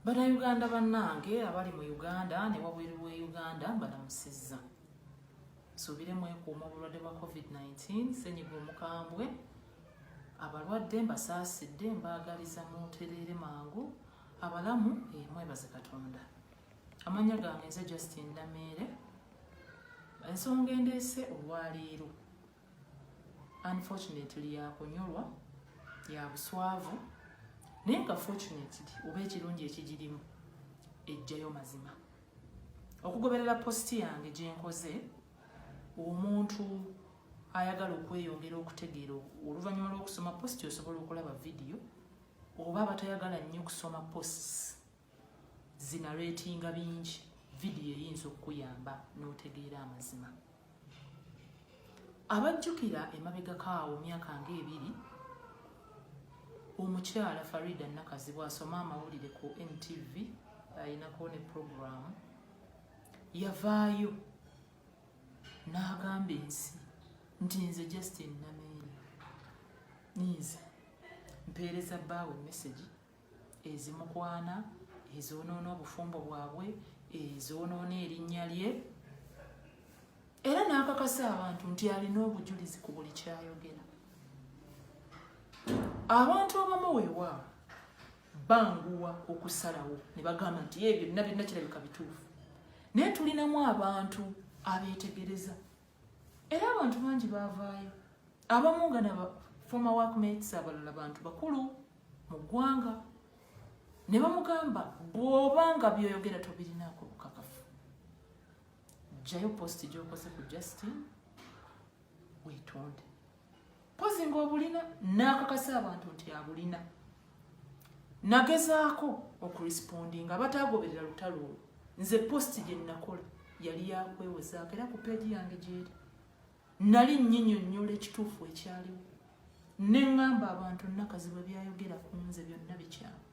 bannayuganda bannange abali mu uganda ne wabweru wa uganda mbalamusizza nsuubire mwekuuma obulwadde bwa covid-19 senyiga omukambwe abalwadde mbasaasidde mbaagaliza mutereere mangu abalamu eh, mwebaze katonda amanya gange nze justin nameere ensonga endeese olwaleero unfortunately yakunyolwa yabuswavu naye nga fortunately oba ekirungi ekigirimu ejjayo mazima okugoberera positi yange gyenkoze omuntu ayagala okweyongera okutegeera oluvannyuma lw'okusoma positi osobola okulaba vidiyo oba abatayagala nnyo kusoma posts zinaretinga bingi vidiyo eyinza okukuyamba n'otegeera amazima abajjukira emabegako awo myaka nga ebiri omukyala farida nakazibwa asoma amawulire ku ntv ayinako ne puroguramu yavaayo n'agamba ensi nti nze justin nameere ninze mpeereza bbaawe mesegi ezimukwana ezoonoona obufumbo bwabwe ezoonoona erinnya lye era n'akakasa abantu nti alina obujulizi ku buli kyayogera abantu abamu weewaawo banguwa okusalawo ne bagamba nti ebyo byonna byonna kirabika bituufu naye tulinamu abantu abeetegereza era abantu bangi baavaayo abamu nga na former workmates abalala bantu bakulu mu ggwanga ne bamugamba bw'oba nga byoyogera tobirinaako bukakafu jjayo posti gy'okoze ku justin weetonde mpozi ngaobulina nakakasa abantu nti abulina nagezaako okurisipondinga abatagoberera lutalo olwo nze posti gyenakola yali yakwewozaako era ku peegi yange gyeri nali nyinyonyola ekituufu ekyaliwo neŋŋamba abantu nakazi bwe byayogera ku nze byonna bikyamu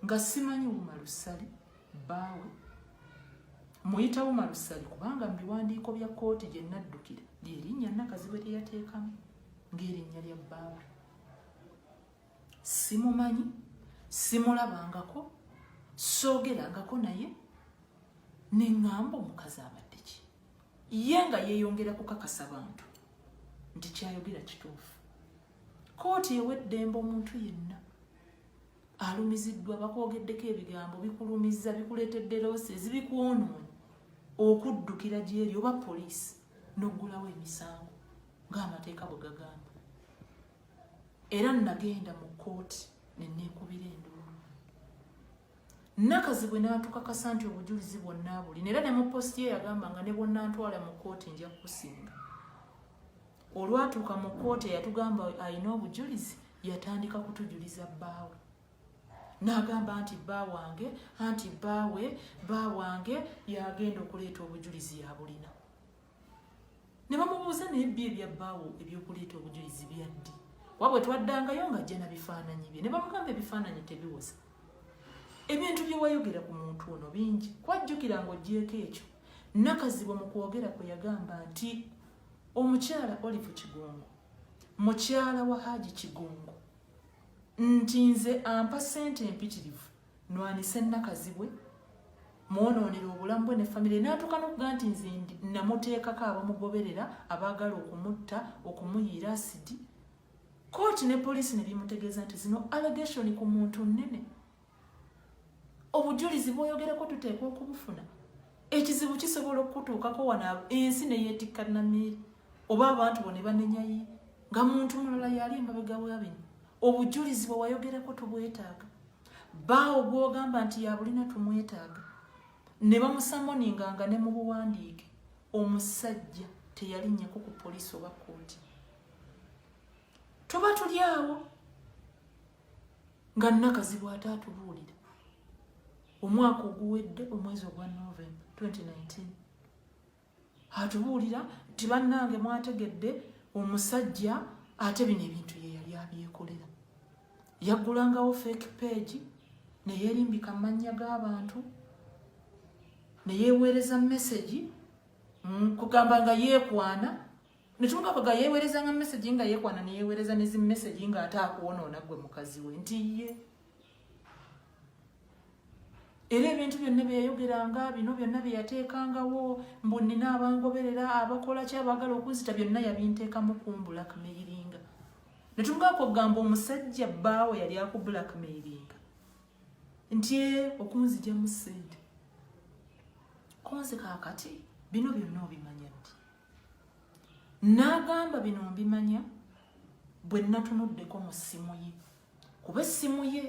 nga simanyi wuma lusali baawe muyita wuma lusali kubanga mu biwandiiko bya kkooti gye naddukira lyerinnya nakazibwe lye yateekamu ng'erinnya lya baawe simumanyi simulabangako soogerangako naye ne ŋŋamba omukazi abadde ki ye nga yeeyongera kukakasa bantu nti kyayogera kituufu kkooti ewa eddembe omuntu yenna alumiziddwa bakwogeddeko ebigambo bikulumizza bikuleetedde loosi ezibikwonoona okuddukira gyeri oba poliisi n'oggulawo emisango ng'amateeka bwe gagamba era nagenda mu kkooti neneekubira enduulu nakazi bwe naatukakasa nti obujulizi bwonna buli naera ne mu positi ye yagamba nga ne bwonnantwala mu kkooti nja kukusinga olwatuuka mu kkooti eyatugamba alina obujulizi yatandika kutujuliza bbaawe n'agamba nti bba wange anti bbaawe bba wange yagenda okuleeta obujulizi yabulina ne bamubuuza naye bbi ebya bbaawo ebyokuleeta obujulizi byaddi kuba bwe twaddangayo nga jjena bifaananyi bye ne bamugamba ebifaananyi tebiwoza ebintu bye wayogera ku muntu ono bingi kwajjukira ng'ogyeko ekyo nakazibu mu kwogera kwe yagamba nti Omukyala Olive Kigongo, mukyala wa Haji Kigongo, nti nze ampa sente empitirivu nwanise Nakazibwe mwonoonera obulamu bwe ne famire n'atuuka n'okuga nti nze namuteekako abamugoberera abaagala okumutta okumuyiira asidi kooti ne poliisi ne bimutegeeza nti zino allegation ku muntu nnene obujulizi bwoyogereko tuteekwa okubufuna ekizibu kisobola okukutuukako wano ensi neyeetikka namiiri oba abantu bo ne banenyayi nga muntu mulala yali emabega wa bino obujulizi bwe wayogerako tubwetaaga baawo gwogamba nti yabulina tumwetaaga ne bamusamoninga nga ne mu buwandiike omusajja teyalinnyeko ku poliisi oba kkooti tuba tuli awo nga nakazibu ate atubuulira omwaka oguwedde omwezi ogwa november 2019 atubuulira nti bannange mwategedde omusajja ate bino ebintu ye yali abyekolera yaggulangawo fake page neyerimbika amannya g'abantu neyeweereza mesegi mm, kugamba nga yeekwana netumugamba ga yeewerezanga message nga yeekwana neyeewereza nezi message nga ate akwonoona gwe mukazi we nti ye era ebintu byonna byeyayogeranga bino byonna byeyateekangawo mbu nina abangoberera abakola ky abagala okunzita byonna yabinteekamu ku mbulakmairinga netumugamba kugamba omusajja bbaawe yali aku blackmairinga nti e okunzijamu sente konze kakati bino byonna obimanya n'agamba bino mbimanya bwe natunuddeko mu ssimu ye kuba essimu ye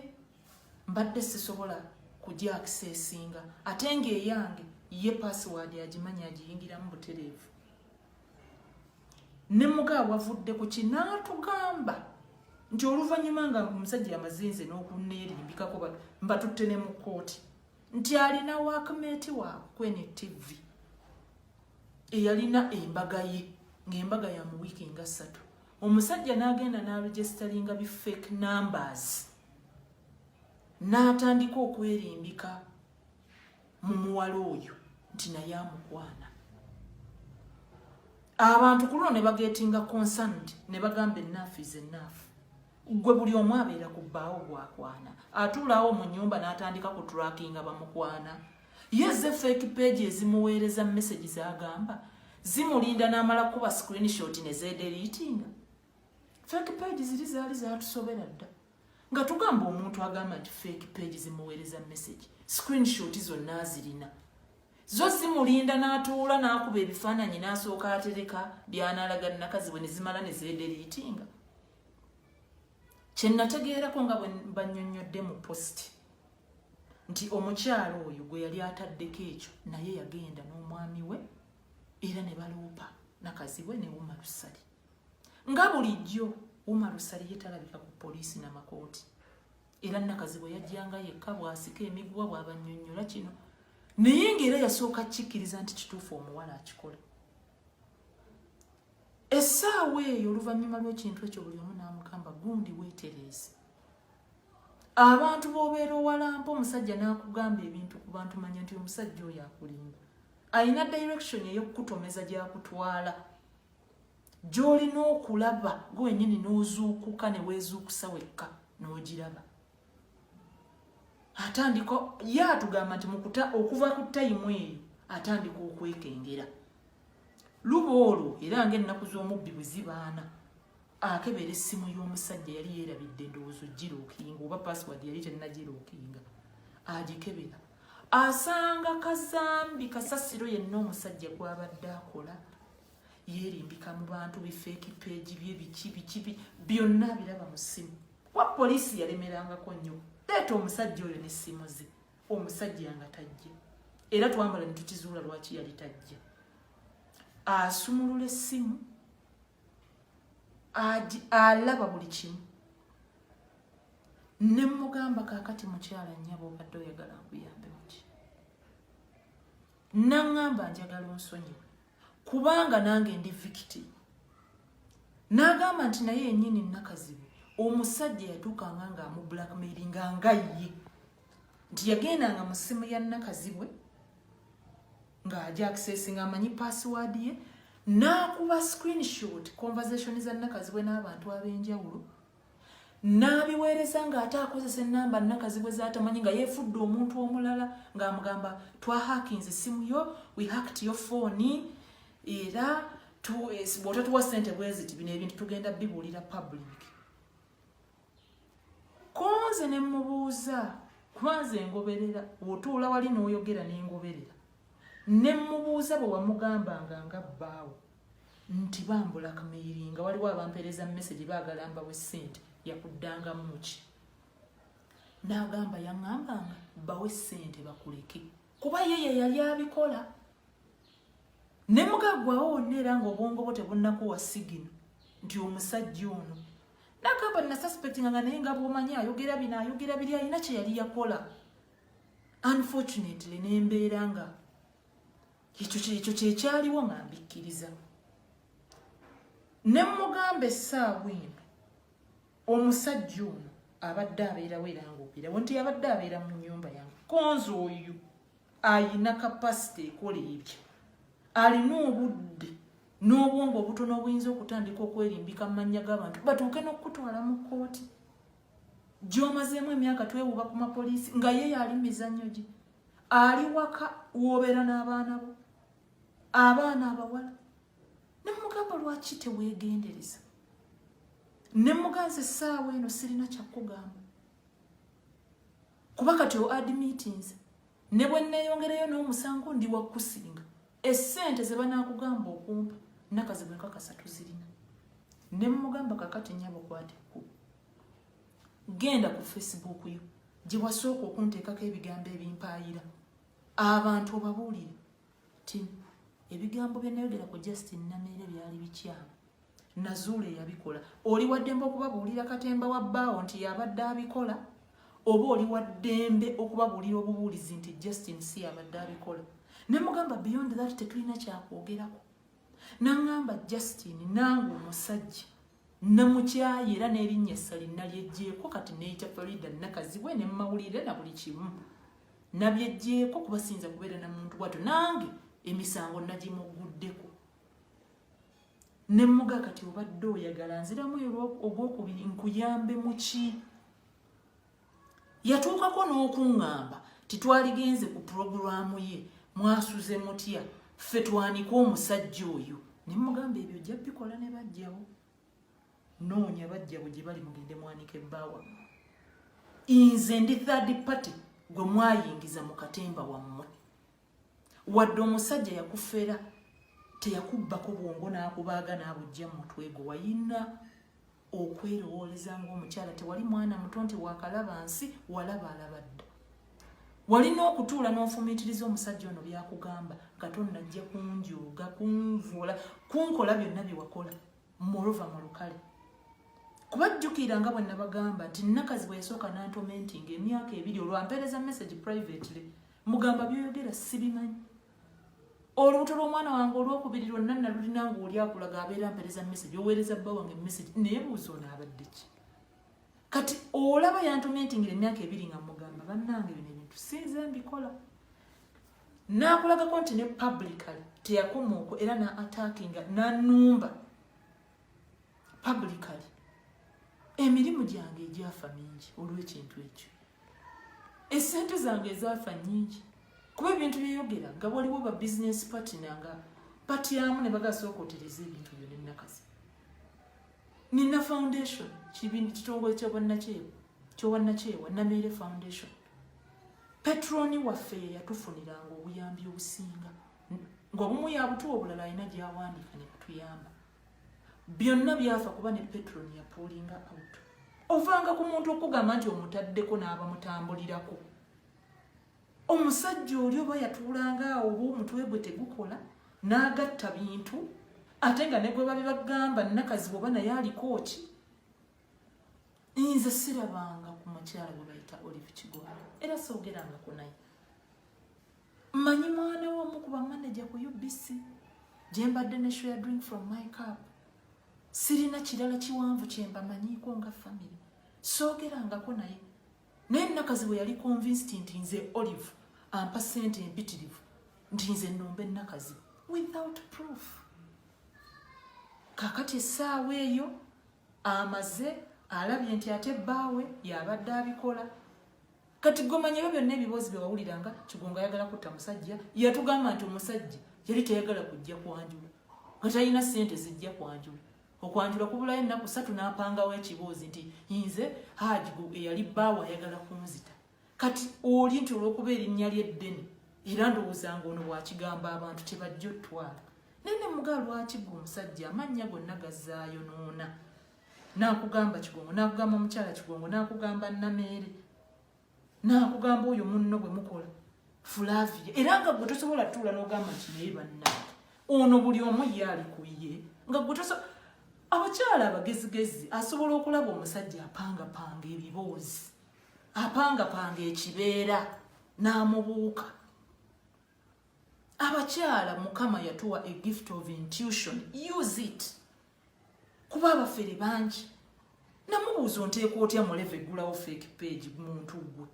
mbadde sisobola kugyakisa esinga ate ng'eyange ye pasiwaadi agimanyi agiyingiramu butereevu ne muga wavudde ku kinaatugamba nti oluvannyuma nga omusajja yamazinze n'okuneerimbikako mbatutte ne mu kkooti nti alina waakmeeti waakwe ne tivi eyalina embaga ye ng'embaga ya mu wiiki nga ssatu omusajja n'agenda n'aregisitalinga bi fake numbers n'atandika okwerimbika mu muwala oyo nti naye amukwana abantu ku luno ne bagetinga concerned ne bagamba enaafu is enaafu gwe buli omu abeera ku bbaawo gwakwana atuulaawo mu nyumba n'atandika ku trackinga bamukwana ye ze fake page ezimuweereza message zagamba zimulinda n'amala kukuba screenshot ne zeederiitinga fake page ziri zaali zatusobera dda nga tugamba omuntu agamba nti fake page zimuweereza message screenshot zonna azirina zo zimulinda n'atuula n'akuba ebifaananyi n'asooka atereka byanaalaga nakazi bwe ne zimala ne zeederiitinga kyenategeerako nga banyonyodde mu post nti omukyalo oyo gwe yali ataddeko ekyo naye yagenda n'omwami we era ne baloopa nakazibwe ne wuma lusali nga bulijjo wuma lusali ye talabika ku poliisi namakooti era nakazibwe yajjanga yekka bwasika emiguwa bwabanyonyola kino naye ngaera yasooka kikkiriza nti kituufu omuwala akikola essaawa eyo oluvannyuma lw'ekintu ekyo buli omu n'amugamba gundi weetereeze abantu b'obeera owalampa omusajja n'akugamba ebintu ku bantu manya nti omusajja oyo akulimba alina direction ey'okukutomeza gy'akutwala gy'olina okulaba gwe wenyini n'ozuukuka ne weezuukusa wekka n'ogiraba atandika ye atugamba nti mukuta okuva ku tayimu eyo atandika okwekengera luba olwo era nga ennaku z'omubbi bwe zibaana akebera essimu y'omusajja yali yeerabidde endowoozo giruukinga oba password yali tennagiruukinga agikebera asanga kazambi kasasiro yenna omusajja gwabadde akola yeerimbika mu bantu bifeeki peegi bye biki biki byonna abiraba mu ssimu kuba poliisi yalemerangako nnyo leeta omusajja oyo n'essimu ze omusajja nga tajja era twambala ne tukizuula lwaki yali tajja asumulula essimu alaba buli kimu ne mugamba kakati mukyala nyabo obadde oyagala nkuyambe muki naŋŋamba njagala onsonyiwe kubanga nange ndi victim n'agamba nti naye yenyini nakazibu omusajja yatuukanga nga amu blackmaili nga nga ye nti yagendanga mu ssimu ya nakazibwe ng'aja access ng'amanyi password ye n'akuba screenshot conversation za nakazibwe n'abantu ab'enjawulo n'abiweereza ng'ate akozesa ennamba nnakazibwe z'atamanyi nga yeefudde omuntu omulala ng'amugamba twahakinze essimu yo we hacked yo fooni era eh, bw'otatuwa ssente bweziti bino ebintu tugenda bibuulira public konze ne mmubuuza kwanze engoberera otuula wali n'oyogera n'engoberera ne mmubuuza bwe wamugambanga nga bbaawo nti bambula kmeyiri nga waliwo abampereza mumesegi bagala mbawe sente yakuddangamu muki nagamba yaŋambanga bawe sente bakuleke kuba ye yeyali abikola ne mugagwawo wonna era nga obwongo bwo tebunnakuwa sigino nti omusajja ono nagamba nasuspectinga nga naye nga bwomanyi ayogera bino ayogera biri alina kyeyali yakola unfortunately nembeera nga ekyo kyekyo kyekyaliwo nga mbikkiriza ne mugamba essaawa eno omusajja ono abadde abeerawo era ngaobeerawo nti abadde abeera mu nyumba yange konzi oyo ayina kapasite ekola ebyo alina obudde n'obwongo obutono obuyinza okutandika okwerimbika mu mannya g'abantu batuuke n'okukutwala mu kkooti gyomazeemu emyaka twewuba ku mapoliisi nga ye yaali mizannyo gye ali waka wobeera n'abaana bo abaana abawala nemugamba lwaki tewegendereza nemuganza essaawa eno sirina kyakugamba kuba kati oadmitins ne bwe nneeyongereyo n'omusango ndi wakusinga essente ze banaakugamba okumpa nakazi bwenkakasa tuzirina ne mmugamba kakati nyabo kwate ku genda ku facebook yo gye wasooka okunteekako ebigambo ebimpaayira abantu obabuulire ti ebigambo bye nayogera ku justin nameere byali bikyamu nazuula eyabikola oli waddembe okubabuulira katemba wa bbaawo nti yabadde abikola oba oli waddembe okubabuulira obubuulizi nti justin si yabadde abikola ne mugamba beyond that tetulina kyakwogerako nangamba justin nange omusajja namukyaye era n'erinnya essali nalyeggyeko kati neyita farida nakazibwe ne mumawulire na buli kimu nabyeggyeko kuba siyinza kubeera na muntu bwatyo nange emisango nagimuguddeko ne muga kati obadde oyagala nziramu ogwokubiri nkuyambe muki yatuukako n'okuŋŋamba titwaligenze ku pulogulaamu ye mwasuze mutya ffe twanika omusajja oyo ne mugamba ebyo ojja bikola ne bajjawo noonya bajjawo gye bali mugende mwanike bbaawa nze ndi third party gwe mwayingiza mu katemba wammwe wadde omusajja yakufera teyakubbako bwongo n'akubaaga n'abujja mu mutwe gwe wayina okwerowooleza ng'omukyala tewali mwana muto nti wakalaba nsi walaba alaba dda walina okutuula n'ofumiitiriza omusajja ono byakugamba nga tonnajja kunjooga kunvuula kunkola byonna bye wakola moreover mu lukale kuba jjukira nga bwe nabagamba nti nakazi bwe yasooka nantomentinga emyaka ebiri olwampeereza message privately mugamba byoyogera sibimanyi olubuto lw'omwana wange olwokubiri lwonna nalulina nga oli akulaga abeera mpeereza message oweereza bba wange message naye buuza onaabadde ki kati olaba yantomentingira emyaka ebiri nga mugamba bannange bino ebintu sinze mbikola n'akulagako nti ne publicly teyakoma okwo era na attackinga nanumba publicly emirimu gyange egyafa mingi olw'ekintu ekyo esente zange ezaafa nyingi kuba ebintu byeyogera nga waliwo ba bizinesi patina nga patyamu ne bagasooka otereza ebintu byo nenakazi nina foundation kitongole kyobwannakyewa kyobwannakyewa nameere foundation petroni waffe yeyatufuniranga obuyambi obusinga ngaobumu yabutuwa obulala alina gyawandiika nebatuyamba byonna byafa kuba ne petroni yapuulinga out ovanga ku muntu okugamba nti omutaddeko n'abamutambulirako omusajja oli oba yatuulanga awo oba omutwe gwe tegukola n'agatta bintu ate nga negwe babibagamba nakazi bwoba naye aliko ki nze sirabanga ku mukyala gwe bayita olive kigwala era soogerangako naye mmanyi mwana womu kuba manaja ku ubc gye mbadde ne share drink from my cup sirina kirala kiwanvu kye mbamanyiiko nga famire soogerangako naye naye nakazi bwe yali convinced nti nze olive ampa sente empitirivu nti nze nomba enakazi without proof kakati essaawa eyo amaze alabye nti ate bbaawe yabadde abikola kati gomanya ebyo byonna ebiboozi byewawulira nga kigongo ayagala kutta musajja yatugamba nti omusajja yali teyagala kujja kwanjula nga talina sente zijja kwanjula okwanjula kubulayo ennaku satu n'apangawo ekiboozi nti nze haji eyali bbaawe ayagala kunzita kati oli nti olwokuba erinnya lyeddene era ndowooza nga ono bwakigamba abantu tebajja otwala naye ne mugaa lwaki gwe omusajja amannya gonna gazaayonoona nakugamba kigongo nakugamba mukyala kigongo nakugamba nameere nakugamba oyo munno bwe mukola fulavia era nga gwe tosobola tuula nogamba nti naye banna ono buli omu ye ali ku ye nga gwe tosobola abakyala abagezigezi asobola okulaba omusajja apangapanga ebiboozi apangapanga ekibeera n'amubuuka abakyala mukama yatuwa a gift of intuition use it kuba abafere bangi namubuuza onteeka otya muleva eggulawo fake page muntu gwe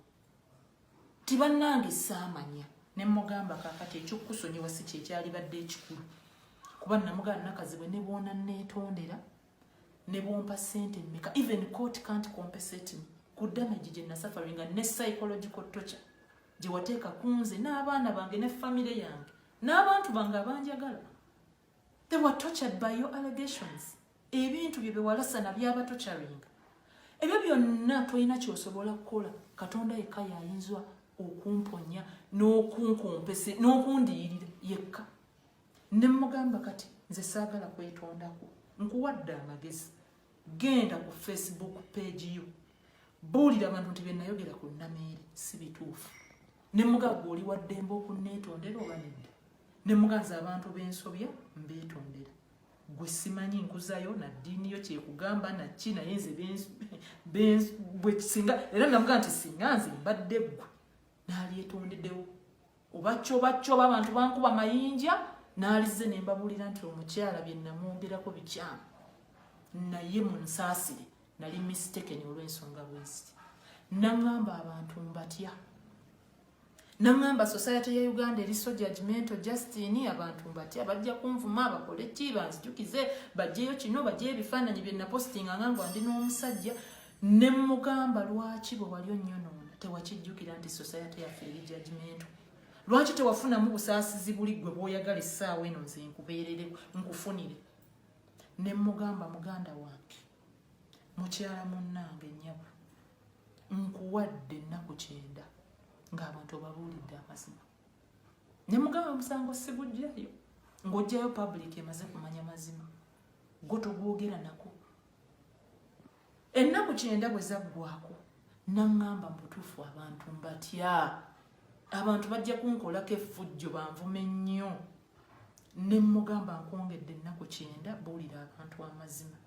ti bannange saamanya ne mugamba kakati ekyokukusonyiwa si kyekyalibadde ekikulu kuba namugaa nakazibwe ne bwona neetondera ne bwompa sente mmeka even court can't compensate me ku damage gye nasaffaringa ne psychological torture gye wateeka ku nze n'abaana bange ne famire yange n'abantu bange abanjagala they were tortured by your allegations ebintu bye bewalasana byaba torturinga ebyo byonna tolina kyosobola kukola katonda yekka yayinzwa okumponya n'okunkumpese n'okundiyirira yekka ne mugamba kati nze saagala kwetondako nkuwadde amagezi genda ku facebook page yo buulira abantu nti byenayogera ku nameeri si bituufu ne mugagga oli waddembe okunneetondera oba nedda ne muganza abantu b'ensobya mbeetondera gwe simanyi nkuzayo na ddiini yo kyekugamba nakki naye nze bwekisinga era namugaa nti singa nze mbadde ggwe naalyetondedewo obacobaccoba abantu bankuba mayinja naalize ne mbabuulira nti omukyala bye namwogerako bikyamu naye mu nsaasire nali mistekeni olw'ensonga bweziti naŋŋamba abantu mbatya naŋŋamba society ya uganda eri so judgmento justin abantu mbatya bajja kunvuma bakole ki banzijukize bajjeyo kino bajjeyo ebifaananyi bye napositinga nga nga ndi n'omusajja Ne mmugamba lwaki bwe wali onnyonoona tewakijjukira nti sosayate yaffe eri jajimentu? Lwaki tewafunamu busaasizi buli ggwe bw'oyagala essaawa eno nze nkubeerere nkufunire? Ne mmugamba muganda wange mukyala munnange nnyabo nkuwadde ennaku kyenda ng'abantu obabuulidde amazima. Ne mugamba omusango sigujjayo ng'ojjayo public emaze kumanya mazima gwo togwogera nako ennaku kyenda bwe zaggwako naŋŋamba mu butuufu abantu mbatya abantu bajja kunkolako effujjo banvume nnyo ne mmugamba nkwongedde ennaku kyenda buulira abantu amazima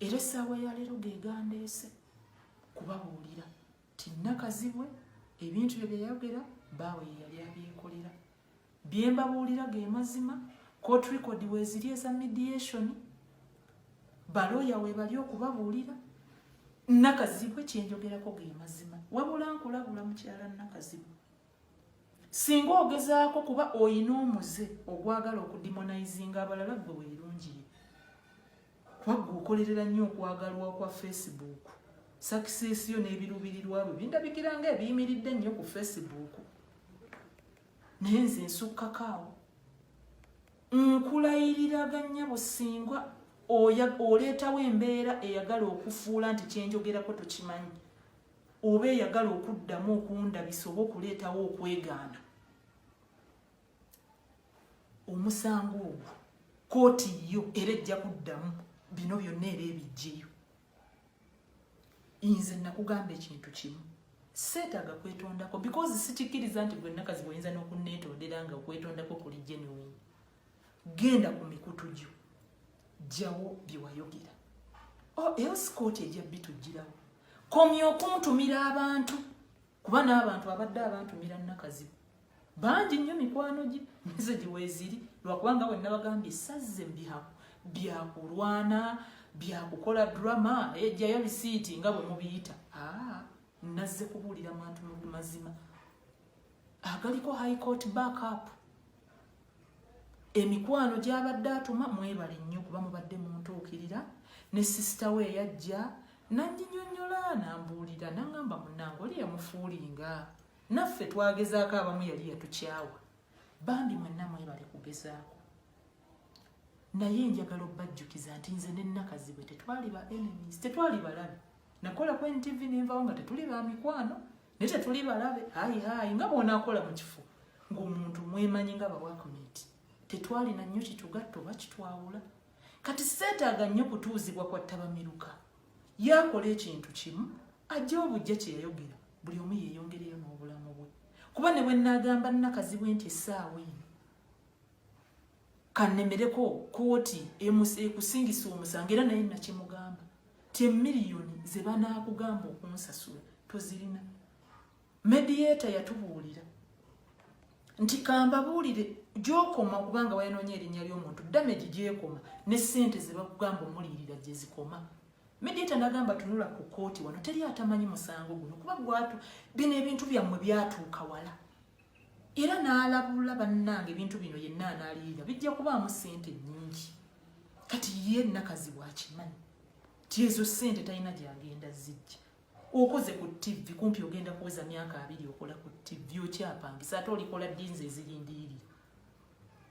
era essaawa ya leero gegandeese kubabuulira tinakazibwe ebintu bye byeyayogera baawe yeyali abyekolera byembabuulira ge mazima court record weziri eza mediation balooya webali okubabuulira nakazibwe kyenjogerako ge mazima wabula nkulabula mukyala nakazibwe singa ogezaako kuba oyina omuze ogwagala okudimonizinga abalala gwe werungiye kwagga okolerera nnyo okwagalwa kwa facebook sakisesi yo n'ebiruubirirwa bwe bindabikira nga ebiyimiridde nnyo ku facebook naye nze nsukkakaawo nkulayirira gannya busingwa oleetawo embeera eyagala okufuula nti kyenjogerako tokimanyi oba eyagala okuddamu okundabisa oba okuleetawo okwegaana omusango ogwo kooti yo era ejja kuddamu bino byonna era ebijjeyo nze nakugamba ekintu kimu seetaaga kwetondako because sikikkiriza nti gwe nakazi bwoyinza n'okunneetondera nga okwetondako kuli genuine genda ku mikutu gyo jjawo bye wayogera o oh, else kooti ejja bitujjirawo komya okuntumira abantu kuba n'abantu abadde abantumira nakazibu bangi nnyo mikwano gye mesegi weeziri lwakubanga bwe nabagambye sazze mubihako byakulwana byakukola drama ejjayo bisiiti nga bwe mubiyita ah, nazze kubuulira mantu mu mazima agaliko high court backup emikwano gyabadde atuma mwebale nnyo kuba mubadde muntuukirira ne sisita we eyajja nanyinyonyola nambuulira nangamba munange oli yamufuulinga naffe twagezaako abamu yali yatukyawa bambi mwenna mwebale kugezaako naye njagala obbajjukiza nti nze nenakazibwe tetwali ba enemies tetwali balabi nakola ku ntv nenvawo nga tetuli ba mikwano naye tetuli balabe hayi hayi nga bwonakola mu kifo ng'omuntu mwemanyi nga bawakumenti tetwalina nnyo kitugatta oba kitwawula kati seetaaga nnyo kutuuzibwa kwa ttabamiruka yaakola ekintu kimu ajja obujja kye yayogera buli omu yeeyongereyo n'obulamu bwe kuba ne bwe nnaagamba nnakazibwe nti essaawa eno kanemereko kooti ekusingisa omusango era naye nakyemugamba ti emiliyoni zebanakugamba okunsasula tozirina mediata yatubuulira nti kambabuulire gyokoma kubanga wayonoonya erinnya ly'omuntu damage gyekoma ne ssente ze bakugamba omuliirira gye zikoma mediata nagamba tunula ku kooti wano teri atamanyi musango guno kuba gwatu bino ebintu byammwe byatuuka wala era n'alabula bannange ebintu bino yenna anaaliyira bijja kubaamu ssente nnyingi kati ye nakazi bwakimanyi ti ezo ssente talina gyagenda zijja okoze ku ttivi kumpi ogenda kuweza myaka abiri okola ku ttivi okyapangisa ate olikola dinzi ezirindiiri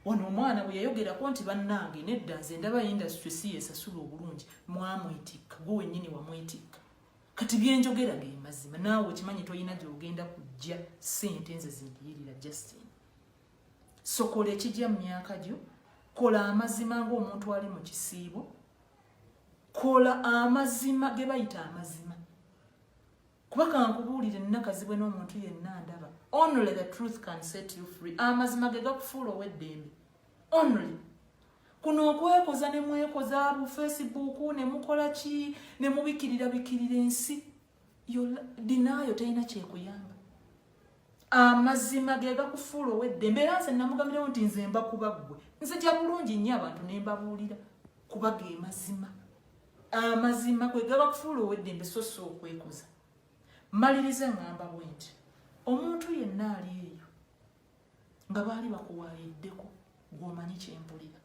wano omwana bwe yayogerako nti bannange nedda nze ndaba industry si yesasula obulungi mwamwetikka gwe wennyini wamwetikka kati byenjogera ge mazima naawe okimanyi tolina gyogenda kujja sente nze zindiyirira justin sokola ekijja mu myaka gyo kola amazima ngaomuntu ali mu kisiibo kola amazima ge bayita amazima kuba kankubuulire nnakazibwe n'omuntu yenna ndaba only the truth can set you free amazima ge gakufuula ow'eddembe only kuno okwekoza ne mwekoza bu facebook ne mukola ki ne mubikirira bikirira ensi dinaayo terina kyekuyamba amazima ge gakufuula owedde mbeera nze namugambirawo nti nze mba kuba ggwe nzija bulungi nnyo abantu ne mbabuulira kuba ge mazima amazima kwe gabakufuula oweddembe so si okwekoza maliriza ngamba bwenti omuntu yenna ali eyo nga baali bakuwaayiddeko gwomanyi kyempulira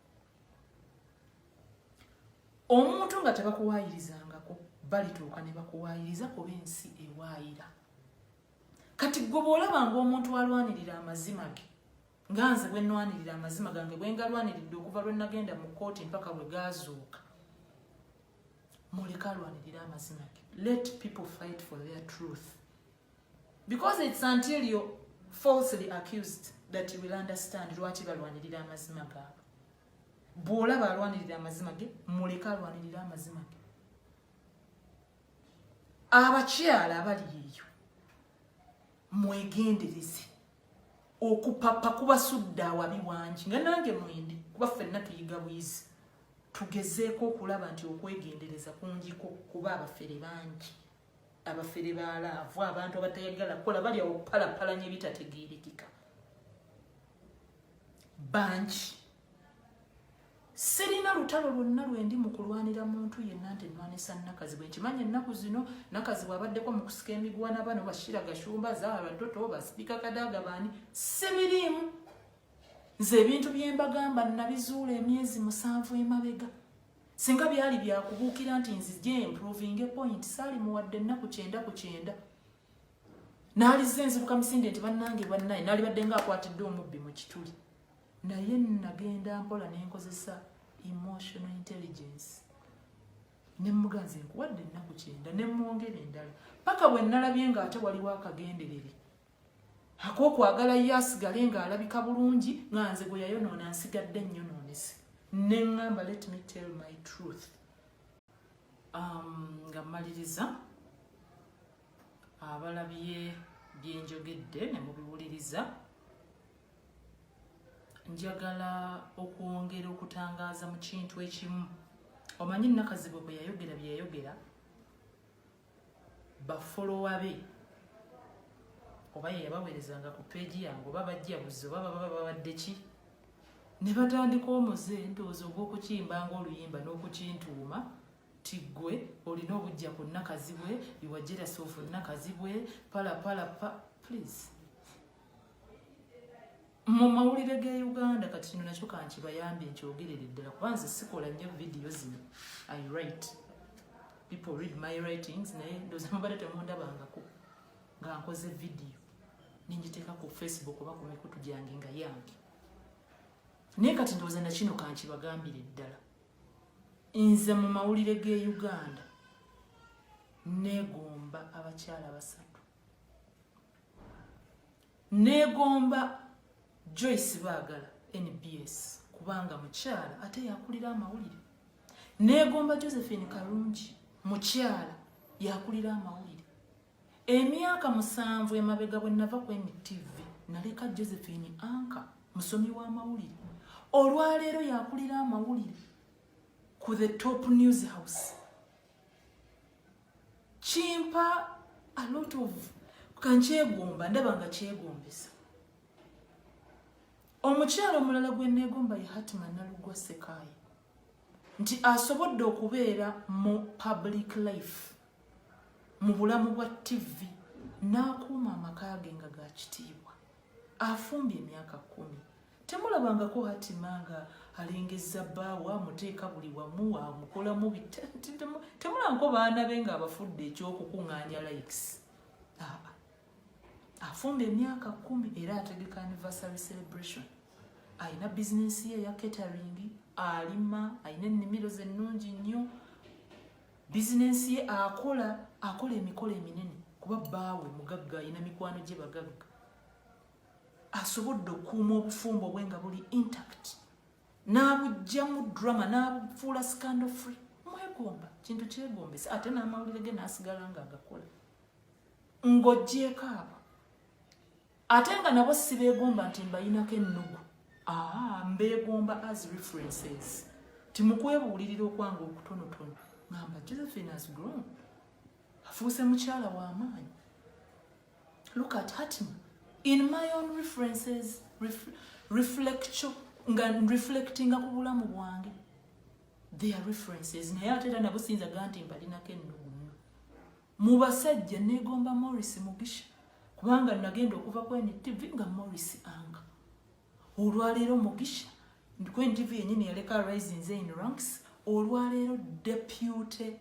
omuntu nga tebakuwaayirizangako balituuka ne bakuwaayiriza kuba ensi ewaayira kati gwe bwolaba ngaomuntu alwanirira amazima ge nga nze bwe nnwanirira amazima gange bwe ngalwaniridde okuva lwe nagenda mu kkooti mpaka bwe gaazuuka muleka alwanirira amazima ge let people fight for their truth because it's until you're falsely accused that you will understand lwaki balwanirira amazima gaabwe bw'olaba alwanirira amazima ge muleke alwanirira amazima ge abakyala abali eyo mwegendereze okupapa kubasudde awabi wangi nga nange mwendi kuba ffenna tuyiga bwizi tugezeeko okulaba nti okwegendereza kungiko kuba abafere bangi abafere balaavu abantu abatayagala kukola balya okupalapalanya ebitategeerekeka bangi sirina lutalo lwonna lwendi mu kulwanira muntu yenna nti nnwanisa nakazi bwe nkimanyi ennaku zino nakazi bwabaddeko mu kusika emigwana bano bashira gashumba zaara toto basiika kadaaga baani sibiriimu nze ebintu byembagamba nabizuula emyezi musanvu emabega Singa byali byakubuukira nti nzije improvinge point saali muwadde ennaku kyenda ku kyenda naalizza enzibuka misinde nti bannange bannaye naalibadde nga akwatidde omubbi mu kituli naye nagenda mpola nenkozesa emotional intelligence nemuganzi nkuwadde ennaku kyenda nemwongera endala paka bwe nalabye nga ate waliwo akagenderere akokwagala ye asigale ng'alabika bulungi nga nze gwe yayonoona nsigadde nnyonoonese ne ŋŋamba let me tell my truth um, nga mmaliriza abalabye byenjogedde ne mubiwuliriza njagala okwongera okutangaaza mu kintu ekimu omanyi nakazibwe bwe yayogera bye yayogera bafolowa be oba yeyabaweerezanga ku peegi yange oba bajja buzzi oba baba babadde ki ne batandika omuze ndowooza ogw'okukimbanga oluyimba n'okukintuuma ti ggwe olina obujja ku nakazibwe iwajerasoofu nakazibwe palapalapa please mu mawulire ga uganda kati kino nakyo kankibayambye nkyogerere ddala kuba nze sikola nnyo vidiyo zino i write people read my writings naye ndoza mubadde temundabangako nga nkoze vidiyo nengiteeka ku facebook oba ku mikutu gyange nga yange naye kati ndoza nakino kankibagambire ddala nze mu mawulire ga uganda negomba abakyala basatu Neegomba Joyce Baagala NBS kubanga mukyala ate yakulira amawulire. Neegomba Josephine Kalungi mukyala yakulira amawulire. Emyaka musanvu emabega bwe nava ku NTV naleka Josephine Anka musomi w'amawulire. Olwaleero yakulira amawulire ku the top news house. kimpa a lot of kankyegomba ndaba nga kyegombesa omukyalo omulala gwe neegomba ye hatima nalugwa sekaayi nti asobodde okubeera mu public life mu bulamu bwa tivi n'akuuma amaka ge nga ga kitiibwa afumbye emyaka kumi temulabangako hatima nga alengezza bbaawe amuteeka buli wamu amukolamu temulangako baana be nga abafudde ekyokukuŋŋaanya likes afumba emyaka kumi era ategeka anniversary celebration alina bizinensi ye eya catering alima alina ennimiro ze nnungi nnyo bizinensi ye akola akola emikolo eminene kuba bbaawe mugagga alina mikwano gye bagagga asobodde okukuuma obufumbo bwe nga buli intact n'abugjamu drama n'abufuula scandal free mwegomba kintu kyegombesa ate n'amawulire ge n'asigala nga agakola ng'ogyeko abo ate nga nabo sibeegomba nti mbayinako ennugu aa mbeegomba as references timukwebuulirira okwanga okutonotono ngamba josephine has grown afuuse mukyala w'amaanyi look at hatim in my own references ref, reflectio nga reflectinga ku bulamu bwange their references naye ate era nabo siyinza ga nti mbalinako ennugumu mu basajja negomba morris mugisha kubanga nagenda okuva ku ntv nga morris anga olwaleero mugisha ku ntv yenyini yaleka risings in ranks olwaleero depute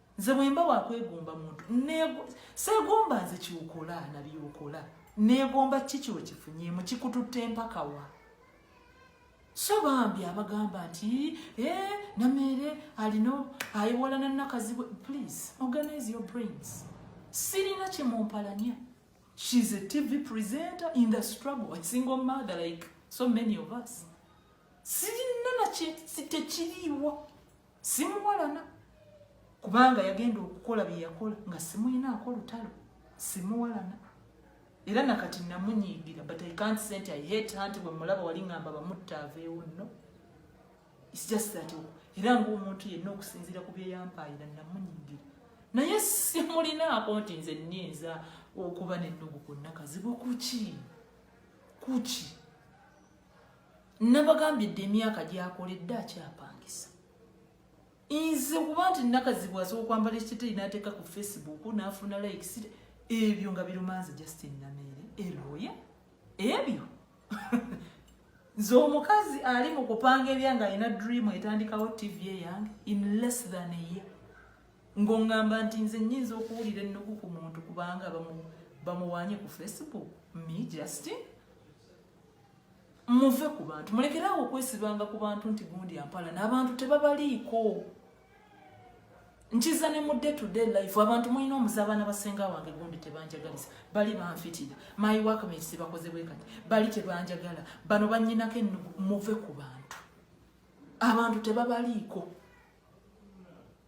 nze bwemba wakwegomba muntu segomba nze kyokola nabyokola negomba kiki wekifunyemu kikututte empakawa so bambi abagamba nti eh, nameere alina ayiwalana nakazibwe please organize your brains sirina kyemumpalanya shes a tv presenter in the struggle a single mother like so many of us sirina nakye tekiriiwo simuwalana kubanga yagenda okukola bye yakola nga simuyinaako lutalo simuwalana era nakati namunyiigira but i can't say nti i hate her nti bwemulaba wali ngamba bamutta aveewo no its just that era ngaomuntu yenna okusinziira ku byeyampaayira namunyiigira naye simulinaako nti nze nyinza okuba nennugu kwonna kazibu kuki kuki nabagambye dde emyaka gyakoledde akyapangisa nze kuba nti nakazibu asobola okwambala ekiteteyi nateeka ku facebook nafuna likes ebyo nga birumanze justin nameere eloya ebyo nze omukazi ali mu kupanga ebyange alina dream etandikawo tv eyange in less than a year ngongamba nti nze nyinza okuwulira ennugu ku muntu kubanga bamuwanye ku facebook me justin muve ku bantu mulekerawo okwesibanga ku bantu nti gundi ampala n'abantu tebabaliiko nkiza ne mudde today life abantu mulina omuze abaana basenga wange gundi tebanjagalisa bali banfitira my workmates tebakoze bwe kati bali tebanjagala bano banyinako ennugu muve ku bantu abantu tebabaliiko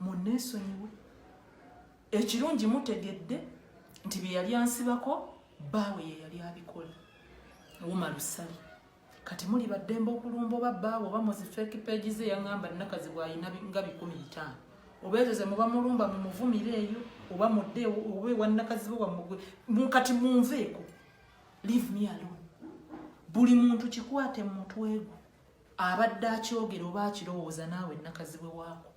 munneesonyiwe ekirungi mutegedde nti bye yali ansibako baawe ye yali abikola wuma lusali kati muli baddembe okulumba oba baawe oba muzifeeki peegi ze yaŋŋamba nnakazi bw'alina nga bikumi bitaano oba ezo ze muba mulumba mu muvumire eyo oba mudde oba ewannakazi be wamugwe kati munveeko leave me alone buli muntu kikwate mu mutwe gwe abadde akyogera oba akirowooza naawe nakazibwe waako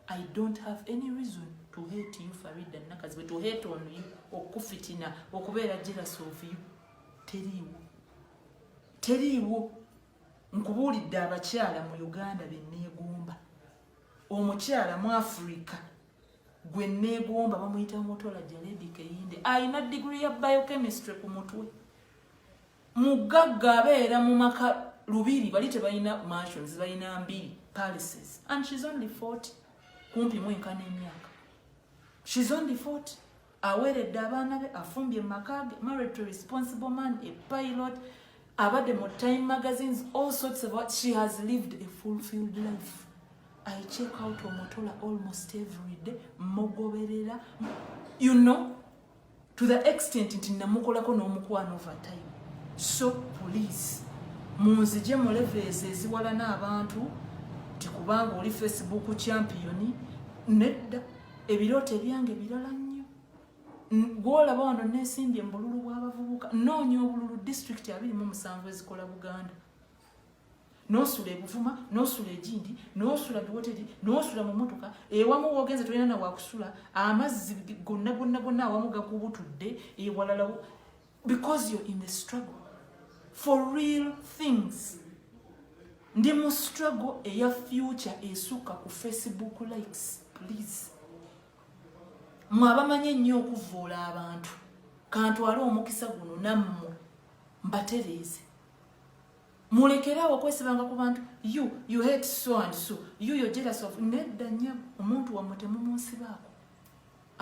i don't have any reason to hate you farida nakazibwe to hate on you okukufitina okubeera jealous of you teriiwo teriiwo nkubuulidde abakyala mu uganda beneegomba omukyala mu africa gwe neegomba bamuyita mutola jaledi keyinde alina digiri ya biochemistry ku mutwe mugagga abeera mu maka lubiri bali tebalina mansions balina mbiri palaces and she's only 40 kumpi mwenkana emyaka she's only 40 aweredde abaana be afumbye makage married to responsible man a pilot abadde mu time magazines all sorts of what she has lived a fulfilled life i check out omutola almost every day mugoberera you know to the extent nti namukolako n'omukwano over time so police munzije mu levels eziwalana abantu nti kubanga oli facebook champion nedda ebirooto ebyange birala nnyo gwolaba wano nesimbye mu bululu bw'abavubuka noonya obululu district abiri mu musanvu ezikola buganda nosula ebuvuma nosula egindi nosula biwoteri nosula mu motoka ewamu wogenze tolina na wakusula amazzi gonna gonna gonna awamu gakubutudde ewalalawo because you're in the struggle for real things ndi mu struggle eya future esukka ku facebook likes please mwe abamanyi ennyo okuvvoola abantu kantwale omukisa guno nammwe mbatereeze mulekerawo okwesibanga ku bantu you you hate so and so you you're jealous of nedda nyabo omuntu wamwe temumusibaako